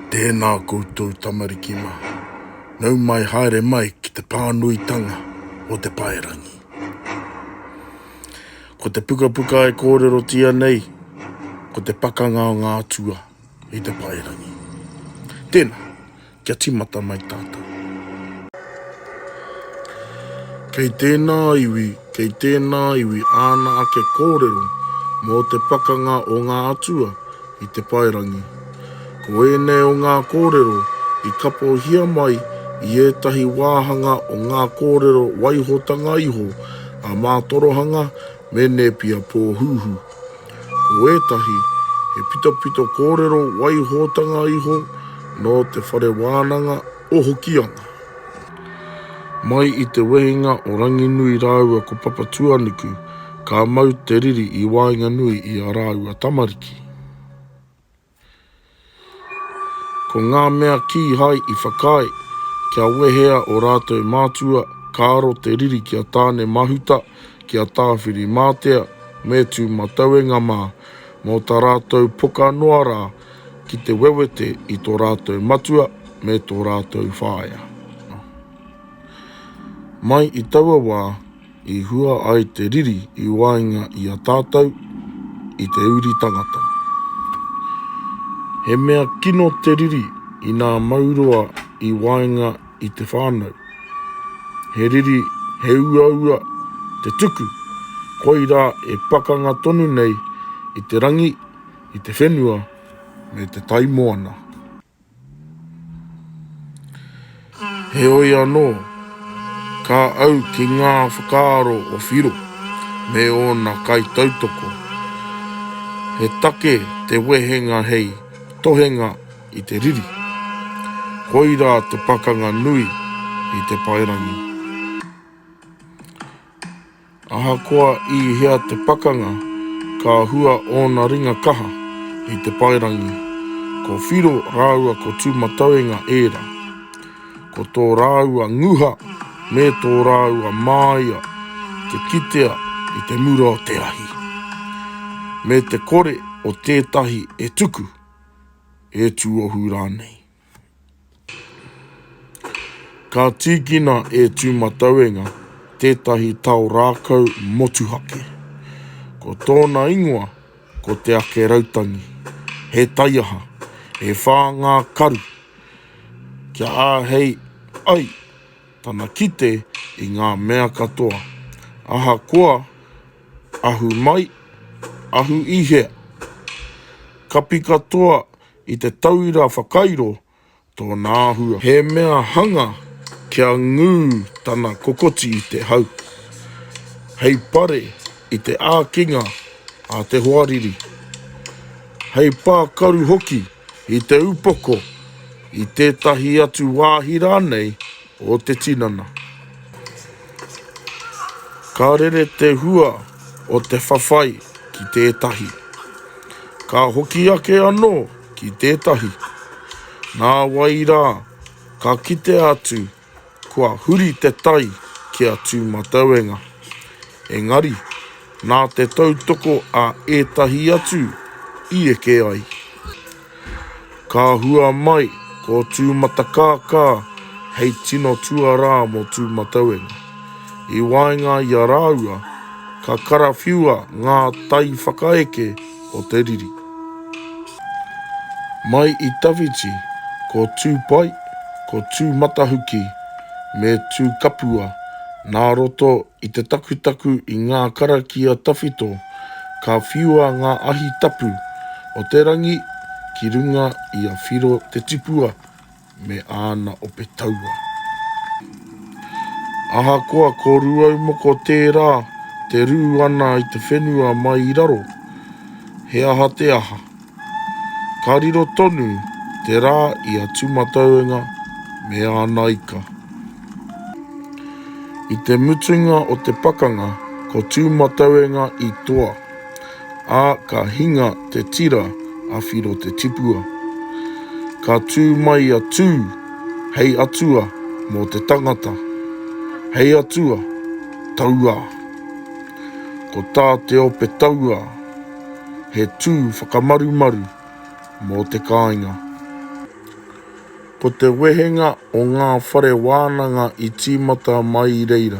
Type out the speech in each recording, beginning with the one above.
Tēnā koutou tamariki mā. Nau mai haere mai ki te pānuitanga o te paerangi. Ko te pukapuka e kōrerotia nei, ko te pakanga o ngā atua i te paerangi. Tēnā, kia timata mai tātou. Kei tēnā iwi Kei tēnā iwi āna ake kōrero mō te pakanga o ngā atua i te paerangi. Ko ēnei o ngā kōrero i kapohia mai i ētahi wāhanga o ngā kōrero waihotanga iho a Mātorohanga me Nēpia Pōhūhū. Ko ētahi, he pitopito kōrero waihotanga iho nō te whare wānanga, o Hokianga. Mai i te wehenga o Ranginui rāua ko Papatuanuku, ka mau te riri i waenganui i a rāua tamariki. Ko ngā mea kīhai i whakaae, kia wehea o rātou mātua, ka aro te riri ki a Tāne Mahuta, ki a Tāwhiri Mātea, me Tūmatauenga mā, mō tā rātou poka noa rā, Ki te wewete i tō rātou matua me tō rātou whaea. Mai i taua wā i hua ai te riri i waenga i a tātou i te uri tangata. He mea kino te riri inā mau roa i waenga i te whānau. He riri he uaua te tuku, koirā e pakanga tonu nei i te rangi, i te whenua me te tai moana. Heoi anō, ka au ki ngā whakaaro o Whiro me ōna kaitautoko. He take te wehenga hei tohenga i te riri. Koirā te pakanga nui i te paerangi. Ahakoa i hea te pakanga, ka hua ōna ringa kaha i te paerangi. Ko Whiro rāua ko Tūmatauenga ērā. Ko tō rāua nguha me tō rāua māia te kitea i te mura o te ahi, me te kore o tētahi e tuku, e tuohu rānei. Ka tīkina e Tūmatauenga tētahi tao rākau motuhake. Ko tōna ingoa ko Te Ake Rautangi. He taiaha, e whā ngā karu kia āhei ai tana kite i ngā mea katoa, ahakoa ahu mai, ahu i hea. Kapi katoa I te tauira whakairo tōna āhua. He mea hanga kia ngū tana kokoti i te hau. Hei pare i te ākinga a te hoariri. Hei pākaru hoki i te upoko i tētahi atu wāhi rānei o te tinana. Ka rere te hua o te whawhai ki tētahi. Ka hoki ake anō ki tētahi. Nā wai rā, ka kite atu kua huri te tai ki a Tūmatauenga. Engari, nā te tautoko a ētahi atu i eke ai. Ka hua mai ko Tūmatakākā hei tino tuarā mō Tūmatauenga. I waenga i a rāua, ka karawhiua ngā tai whakaeke o te riri. Mai i tawhiti ko Tūpai, ko Tūmatahuki me Tūkapua nā roto I te takutaku i ngā karakia tawhito, ka whiua ngā ahi tapu o te rangi ki runga i a Whiro te tipua me āna ope taua. Ahakoa ko Ruaumoko tērā te rū ana i te whenua mai i raro, he aha te aha, Ka riro tonu te rā i a Tūmatauenga me āna ika. I te mutunga o te pakanga ko Tūmatauenga i toa, ā, ka hinga te tira a Whiro Te Tipua. Ka tū mai a Tū hei atua mō te tangata. Hei atua, tauā. Ko tā te ope tauā. He tū whakamarumaru mō te kāinga. Ko te wehenga o ngā whare wānanga i tīmata mai i reira,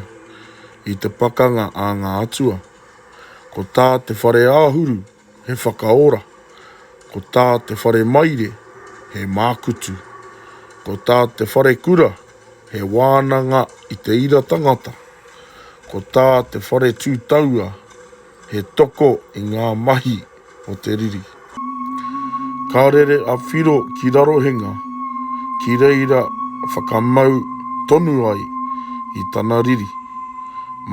i te pakanga a ngā atua. Ko tā te whare āhuru, he whakaora. Ko tā te whare maire, he mākutu. Ko tā te wharekura, he wānanga i te ira tangata. Ko tā te whare tūtaua, He toko i ngā mahi o te riri. Ka rere a Whiro ki Rarohenga ki reira whakamau tonu ai i tana riri,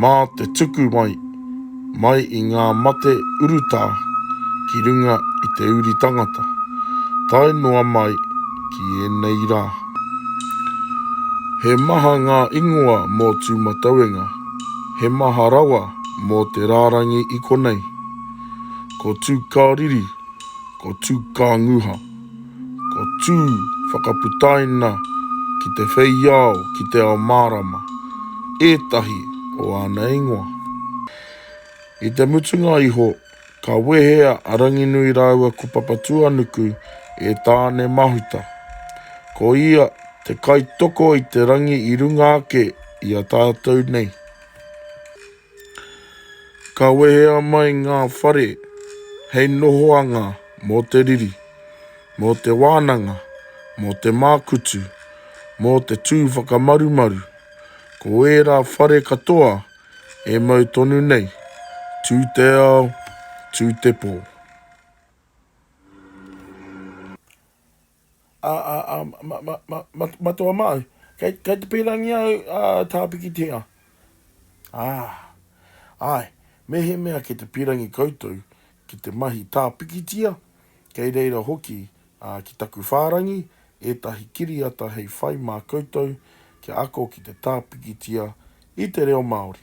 mā te tuku mai, mai i ngā mate urutā ki runga i te uri tangata, tae noa mai ki ēnei rā. He maha ngā ingoa mō Tūmatauenga, he maha rawa Mō te rārangi i konei, ko Tūkāriri, ko Tūkānguha, ko Tū whakaputaina ki te wheiao ki te ao mārama, ētahi o āna ingoa. I te mutunga iho, ka wehea a Ranginui rāua ko Papatūānuku e Tāne Mahuta. Ko ia te kaitoko i te rangi i runga ake i a tātou nei. Ka wehea mai ngā whare hei nohoanga mō te riri, mō te wānanga, mō te mākutu, mō te tū whakamarumaru. Ko ērā whare katoa e mau tonu nei, tū te ao, tū te pō. a, a, a, ma, ma, ma, ma, matoa māu. Kei, kei te pērangi au, a, tāpikitia. Ā, āe, mehemea kei te pērangi koutou ki te mahi tāpikitia, kei reira hoki, a, ki taku whārangi, ētahi kiriata hei whai mā koutou kia ako ki te tāpikitia i te reo Māori.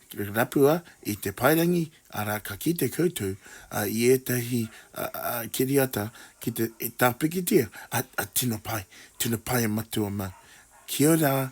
Rapua i te paerangi, arā, ka kite koutou i ētahi kiriata ki te tāpikitia, tino pai, tino pai e Matua Mau. Kia ora!